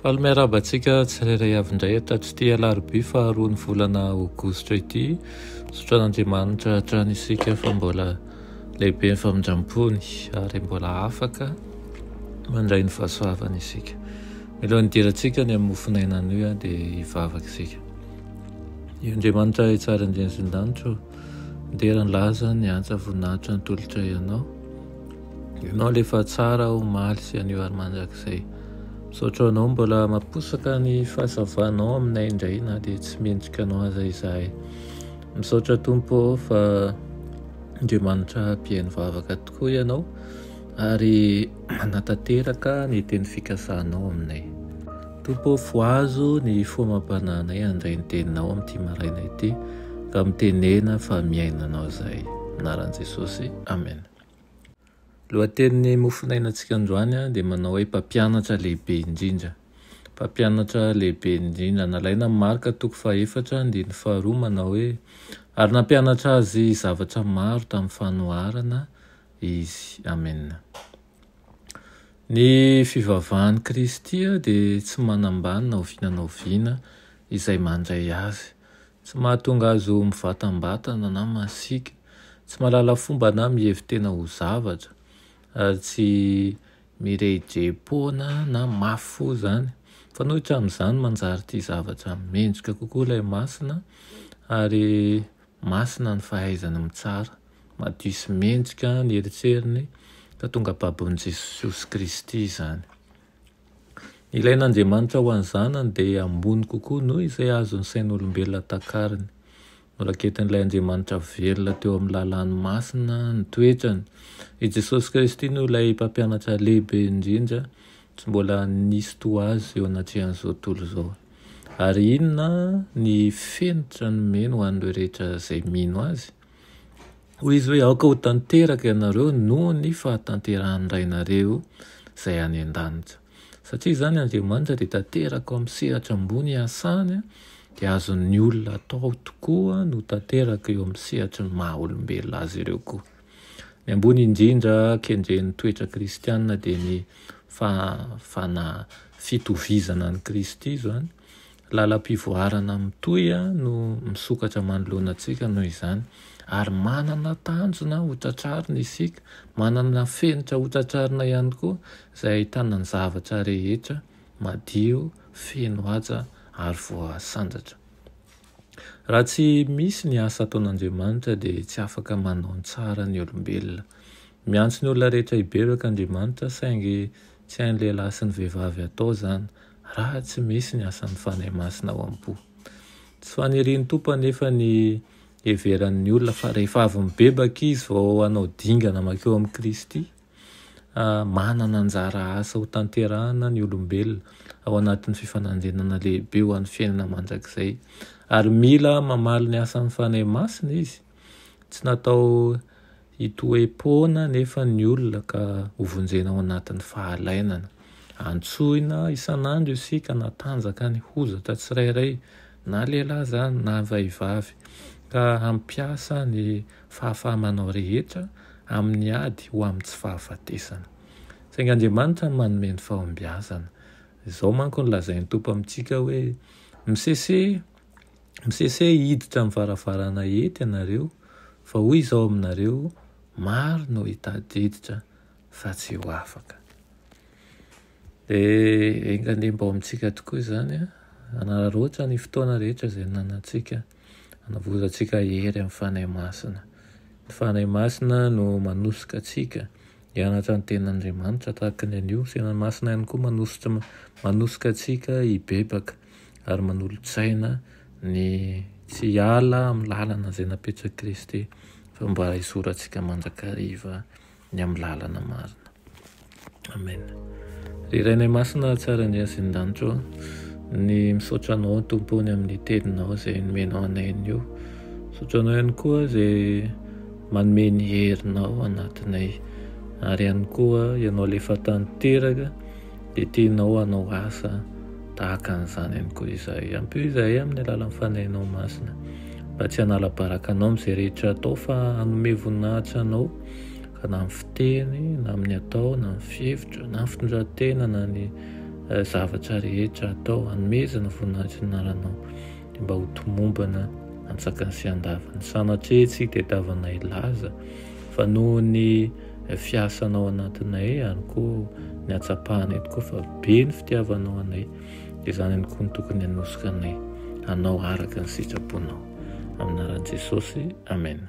Faly miarahaba antsika tsirairay avy indray eto tatsity alarobia faharoa ny volana aogositra ity. Sotran'Andriamanitra hatrany isika fa mbola lehibe ny famindrampony ary mbola afaka mandray ny fahasoavany isika. Miloha ny dirantsika ny amin'ny mofonaina anio ah, dia hivavaka isika. Io Andriamanitra hitsara ny dian'izin-danitro, dera ny laza ny antsa voninahitra ny tolotra ianao. Ianao le fa tsara omaly sy anio ary mandrakizay. Misaotra anao mbola maposaka ny fahazavanao aminay indray na dia tsy mendrika anao aza izahay. Misaotra Tompo fa Andriamanitra mpihaino vavaka tokoa ianao ary manatanteraka ny teny fikasanao aminay. Tompo ô fohazo ny fomam-panahinay handray ny teninao amin'ity maraina ity ka mitenena fa miaina anao izahay. Anaran'i Jesosy. Amen. Lohatenin'ny mofonainantsika androany dia manao hoe Mpampianatra lehibe indrindra. Mpampianatra lehibe indrindra. Nalaina amin'ny Marka toko fahefatra andininy faharoa manao hoe Ary nampianatra azy zavatra maro tamin'ny fanoharana izy. Amena. Ny fivavahan'i Kristy dia tsy manambany na oviana na oviana izay mandray azy. Tsy mahatonga azy ho mivatambatana na masiaka, tsy mahalala fomba na mihevi-tena ho zavatra, ary tsy mirehidrehi-poana na mafy fo izany. Mifanohitra amin'izany, manjary tia zavatra mendrika kokoa ilay masina ary Masina ny fahaizany mitsara. Madio sy mendrika ny eritreriny ka tonga babon'i Jesosy Kristy izany. Ny ilain'Andriamanitra ho an'ny zanany dia ambony kokoa noho izay azon'ny sain'olombelona takariny. Noraketin'ilay Andriamanitra velona teo amin'ny lalàny masina ny toetrany. I Jesosy Kristy no ilay mpampianatra lehibe indrindra Tsy mbola nisy toa azy eo anatrehan'izao tontolo izao. Ary inona ny fenitra nomeny ho an'ireo rehetra izay mino azy? Hoy izy hoe, Aoka ho tanteraka ianareo noho ny fahatanterahan'ny Rainareo izay any an-danitra. Satria izany Andriamanitra dia tanteraka ao amin'ny sehatra ambony iasany, dia azon'ny olona atao tokoa no tanteraka eo amin'ny sehatry ny maha-olombelona azy ireo koa. Ny ambony indrindra kendren'ny toetra kristiana dia ny fahafana fitovizana an'i Kristy izany. Lalam-pivoarana mitohy no misokatra manoloana antsika noho izany, ary manana tanjona ho tratrarina isika, manana fenitra ho tratrarina ihany koa izay ahitana ny zavatra rehetra madio, feno haja ary voasandratra. Raha tsy misy ny asa ataon'Andriamanitra dia tsy afaka manao ny tsara ny olombelona. Miantso ny olona rehetra hibebaka Andriamanitra saingy tsy hain'ny lehilahy sy ny vehivavy hatao izany raha tsy misy ny asan'ny Fanahy Masina ao am-po. Tsy fanirian'ny Tompo anefa ny hiheveran'ny olona fa rehefa avy mibebaka izy vao hanao dingana mankeo amin'i Kristy. Manana anjara asa hotanterahina ny olombelona ao anatin'ny fifanandrinana lehibe ho an'ny fiainana mandrakizay, ary mila mamaly ny asan'ny Fanahy Masina izy. Tsy natao hitoe-poana anefa ny olona ka hovonjena ao anatin'ny fahalainana. Antsoina isan'andro isika hanatanjaka ny hozatra tsirairay, na lehilahy izany na vehivavy, ka hampiasa ny fahafahamanao rehetra amin'ny ady ho amin'ny tsy fahafatesana. Saingy Andriamanitra no manome ny fahombiazana. Izao manko no lazain'ny Tompo amintsika hoe, Misese, misese hiditra amin'ny varavarana hety ianareo, fa hoy Izaho aminareo, maro no hitadiditra fa tsy ho afaka. Dia enga anie mba ao amintsika tokoa izany, hanararaotra ny fotoana rehetra izay nanantsika. Hanavorantsika hery amin'ny Fanahy Masina. Ny Fanahy Masina no manosoka antsika hianatra ny Tenin'Andriamanitra tahaka ny an'io. Ny Fanahy Masina ihany koa manosotra, manosoka antsika hibebaka ary manolo-tsaina ny tsy hiala amin'ny lalana izay napetrak'i Kristy fa mba hisoratsika mandrakariva. ny amin'ny lalana marina. Amen. Ry Rainay Masina, tsara ny azy ny danitro, ny misaotra anao tompony amin'ny teninao izay nomenao anay an'io. Misaotra anao ihany koa izay manome ny herinao anatinay. Ary ihany koa ianao lefa tanteraka dia tianao anao asa tahaka an'izany ihany koa izahay. Ampio izahay amin'ny alalan'ny fanahinao masina mba tsy hanala baraka anao amin'izay rehetra atao fa hanome voninahitra anao ka na amin'ny fiteny na amin'ny atao na amin'ny fihevitra na ny fitondran-tena na ny eh, zavatra rehetra atao hanomezana voninahitra ny anaranao dia mba ho tomombana antsakany sy andavany sanatria tsy tetavanay laza fa noho ny eh, fiasanao anatinay ihany koa ny atsapahana eto koa fa be ny fitiavanao anay dia izany ihany koa ny tokony hanosoka anay hanao araka ny sitraponao amin'ny anaran'i Jesosy amen